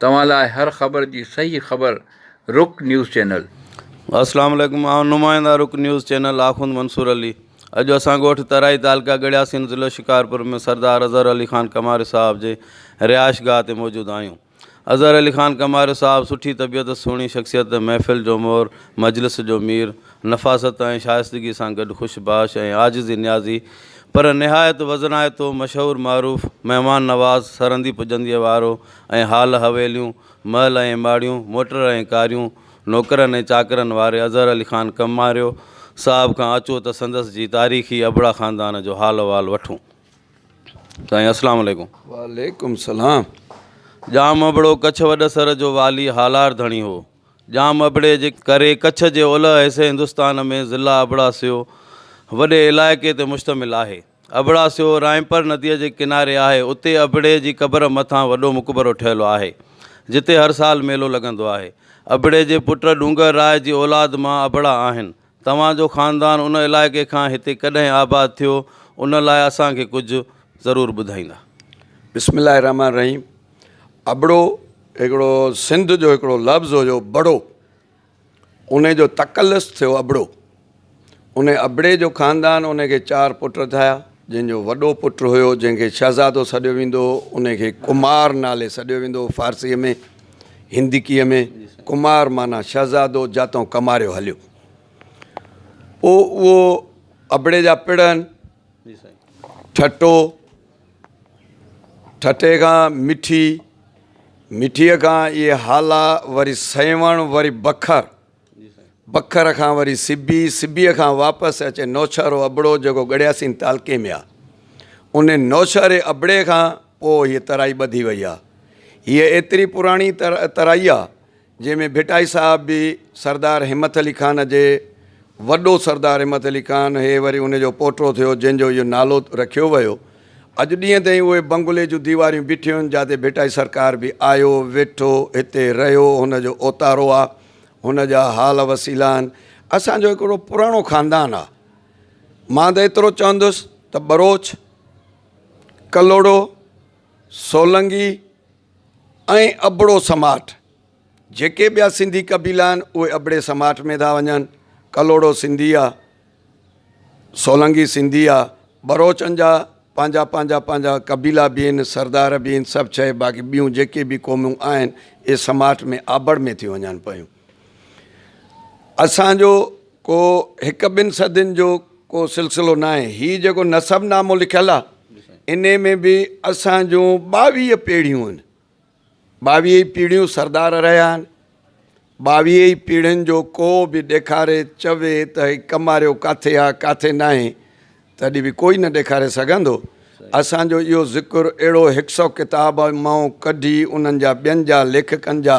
توهان لاء هر خبر جي صحيح خبر رڪ نيوز چينل. السلام عليڪم آئون نمائنده رڪ نيوز چينل آخوند منصور علي اڄ اسان ڳوٺ ترائي تعلقه ڳڙياسين ضلعو شڪارپور ۾ سردار اظهر علي خان ڪماري صاحب جي رهائش گاهه تي موجود آهيون اظهر علي خان ڪماري صاحب سٺي طبيعت سهڻي شخصيت محفل جو مور مجلس جو مير نفاست ۽ شائستگي سان گڏ خوش باش ۽ عاجزي نيازي پر نهايت وزنائتو مشهور معروف مهمان نواز سرهندي پڄنديء وارو ۽ هال حويليون، محل ۽ ماڙيون، موٽر ۽ ڪاريون، نوڪرن ۽ چاڪرن واري اظهر علي خان ڪمهاريو صاحب کان اچو ته سندس جي تاريخي ابڙا خاندان جو حال احوال وٺون. سائين اسلام عليڪم. وعليڪم السلام. ڄام ابڙو ڪڇ وڏ سر جو والي هالار ڌڻي هو. ڄام ابڙي جي ڪري ڪڇ جي اولهه حصي هندستان ۾ ضلع ابڙا سيو وڏي علائقي تي مشتمل آهي. ابڙا سيو رائمپر نديء جي ڪناري آهي. اتي ابڙي جي قبر مٿان وڏو مقبرو ٺهيل آهي، جتي هر سال ميلو لڳندو آهي. ابڙي جي پٽ ڏونگر راء جي اولاد مان ابڙا آهن. توهان جو خاندان ان علائقي کان هتي ڪڏهن آباد ٿيو، ان لاء اسان کي ڪجهه ضرور ٻڌائيندا. بسم الله الرحمٰن الرحيم ابڙو هڪڙو سنڌ جو هڪڙو لفظ هيو بڙو. انهي جو تخلص ٿيو ابڙو. انهي ابڙي جو خاندان انهي کي چار پٽ ٿيا، جن جو وڏو پٽ هيو جنهن کي شهزادو سڏيو ويندو هو، انهي کي ڪمار نالي سڏيو ويندو هو فارسيء ۾، هندڪيء ۾، ڪمار معنيٰ شهزادو جاتئون ڪماريو هليو. پوء اهو ابڙي جا پڙهن، ٺٽو، ٺٽي کان مٺي، مٺيء کان اهي هالا، وري سيوهڻ، وري بکر، بکر کان وري سبي، سبيء کان واپس اچي نوشهرو ابڙو جيڪو ڳڙهياسين تعلقي ۾ آهي. ان نوشهري ابڙي کان پوء هيء ترائي ٻڌي وئي آهي. هيء ايتري پراڻي ترائي آهي، جنهن ۾ ڀٽائي صاحب به سردار همٿ علي خان جي وڏو سردار همٿ علي خان هي وري ان جو پوٽو ٿيو جنهن جو اهو نالو رکيو ويو اڄ ڏينهن تائين اهي بنگلي جون ديواريون بيٺيون آهن جاتي ڀٽائي سرڪار به آيو ويٺو هتي رهيو هن جو اوتارو آهي هن جا حال وسيلا آهن اسان جو هڪڙو پراڻو خاندان آهي مان ته ايترو چوندس ته ٻروچ ڪلهوڙو سولنگي ۽ ابڙو سماٽ، جيڪي ٻيا سنڌي قبيلا آهن اهي ابڙي سماٽ ۾ ٿا وڃن، ڪلهوڙو سنڌي آ، سولنگي سنڌي آ، ٻروچن جا پنهنجا پنهنجا پنهنجا قبيلا به آهن، سردار به آهن، سڀ شيء باقي ٻيون جيڪي به قومون آهن اهي سماٽ ۾ آبڙ ۾ ٿيون وڃن پيون. اسان جو ڪو هڪ ٻن صدين جو ڪو سلسلو ناهي. هي جيڪو نسب نامو لکيل آ انهي ۾ به اسان جون ٻاويهه پيڙهيون آهن. ٻاويهه ئي پيڙهيون سردار رهيا آهن. ٻاويهه ئي پيڙهين جو ڪو به ڏيکاري چوي ته هي ڪماريو ڪاٿي آ ڪاٿي ناهي تڏهن به ڪوئي نه ڏيکاري سگهندو. اسان جو اهو ذڪر اهڙو هڪ سئو ڪتاب مئون ڪڍي انهن جا ٻين جا ليکڪن جا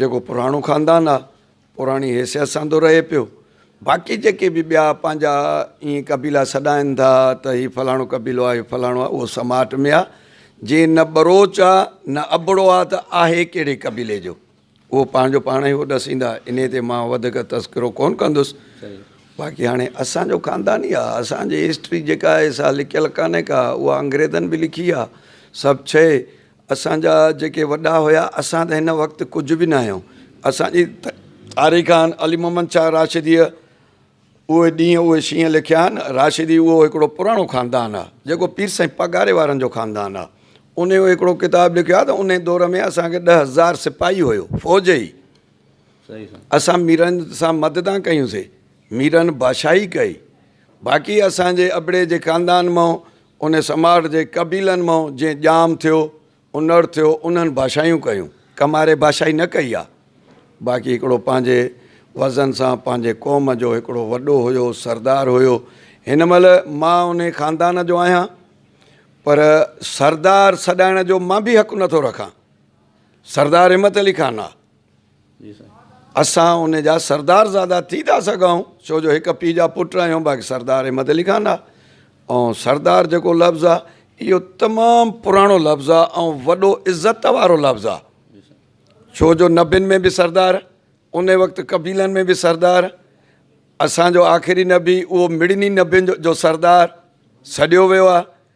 جيڪو پراڻو خاندان آ پراڻي حيثيت سان ٿو رهي پيو باقي جيڪي به ٻيا پنهنجا ائين قبيلا سڏائين ٿا ته هي فلاڻو قبيلو آ هي فلاڻو آ اهو سماٽ ۾ آ جي نه ٻروچ آ نه ابڙو آ ته آهي ڪهڙي قبيلي جو اهو پنهنجو پاڻ ئي هو ڏسيندا انهي تي مان وڌيڪ تذڪرو ڪون ڪندس باقي هاڻي اسان جو خاندان ئي آ اسان جي هسٽري جيڪا آهي سا لکيل ڪانهي ڪا اها انگريزن به لکي آ سڀ شئي اسان جا جيڪي وڏا هيا اسان ته هن وقت ڪجهه به ناهيون اسان جي تاريخان علي محمد شاهه راشديء اهي ڏينهن اهي شينهن لکيا آهن راشدي اهو هڪڙو پراڻو خاندان آهي جيڪو پير سائين پگهاري وارن جو خاندان آهي ان جو هڪڙو ڪتاب لکيو آهي ته ان دور ۾ اسان کي ڏهه هزار سپاهي هيو فوج ئي اسان ميرن سان مددان ڪيون سي ميرن بادشاهي ڪئي باقي اسان جي ابڙي جي خاندان مئو ان سماٽ جي قبيلن مئون جيئن ڄام ٿيو، انڙ ٿيو، انهن ڀاشايون ڪيون. ڪماري ڀاشائي نه ڪئي آ، باقي هڪڙو پنهنجي وزن سان پنهنجي قوم جو هڪڙو وڏو هيو، سردار هيو. هن مهل مان انهي خاندان جو آهيان، پر سردار سڏائڻ جو مان به حق نٿو رکان. سردار همت علي خان آ. اسان ان جا سردارزادا ٿي ٿا سگهون ڇو جو هڪ پيء جا پٽ آهيون باقي سردار احمد علي خان آ ۽ سردار جيڪو لفظ آ اهو تمام پراڻو لفظ آ ۽ وڏو عزت وارو لفظ آ ڇو جو نبين ۾ به سردار ان وقت قبيلن ۾ به سردار اسان جو آخري نبي اهو مڙني نبين جو سردار سڏيو ويو آ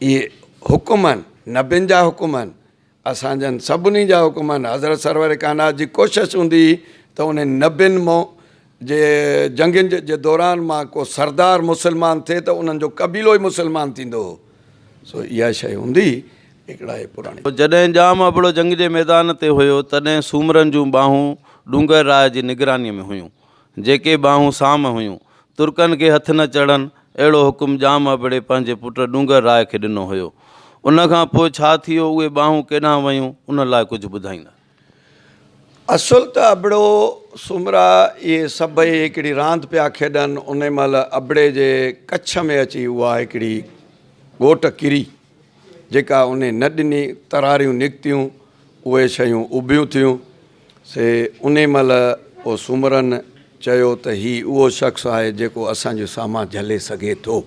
اهي حڪم آهن نبين جا حڪم آهن اسان جن سڀني جا حڪم آهن حضرت سرور ڪائنات جي ڪوشش هوندي هئي ته انهن نبين مئو جي جنگين جي دوران مان ڪو سردار مسلمان ٿئي ته انهن جو قبيلو ئي مسلمان ٿيندو هو سو اها شيء هوندي هئي هڪڙا اهي پراڻي. جڏهن ڄام ابڙو جنگ جي ميدان تي هيو تڏهن سومرن جون ٻانهون ڏونگر راء جي نگرانيء ۾ هيون. جيڪي ٻانهون سام هيون، ترڪن کي هٿ نه چڙهن، اهڙو حڪم ڄام ابڙي پنهنجي پٽ ڏونگر راء کي ڏنو هيو. ان کان پوء ڇا ٿيو، اهي ٻانهون ڪيڏانهن ويون، ان لاء ڪجهه ٻڌائيندا؟ اصل ته ابڙو سومرا اهي سڀئي هڪڙي راند پيا کيڏن، ان مهل ابڙي جي ڪڇ ۾ اچي اها هڪڙي ڳوٽ ڪري، جيڪا انهي نه ڏني، تراريون نڪتيون، اهي شيون اڀيون ٿيون. سي انهي مهل او سومرن چيو ته هي اهو شخص آهي جيڪو اسان جو سامان جهلي سگهي ٿو.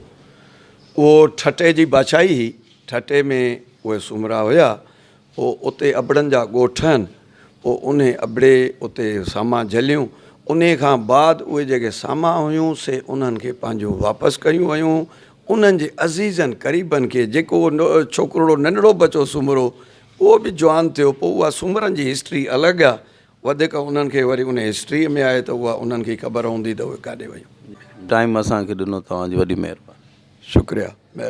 اهو ٺٽي جي بادشاهي هئي. ٺٽي ۾ اهي سومرا هيا. پوء اتي ابڙن جا ڳوٺ ٺهن. پوء انهي ابڙي اتي سامان جهليون. انهي کان بعد اهي جيڪي سامان هيون سي انهن کي پنهنجون واپس ڪيون ويون. انهن جي عزيزن قريبن کي جيڪو اهو ڇوڪرڙو ننڍڙو بچو سومرو اهو به جوان ٿيو پوء اها سومرن جي هسٽري الڳ آ وڌيڪ انهن کي وري ان هسٽري ۾ آهي ته اها انهن کي ئي خبر هوندي ته اهي ڪاڏي ويون. ٽائيم اسان کي ڏنو توهان جي وڏي مهرباني. شڪريا مهرباني.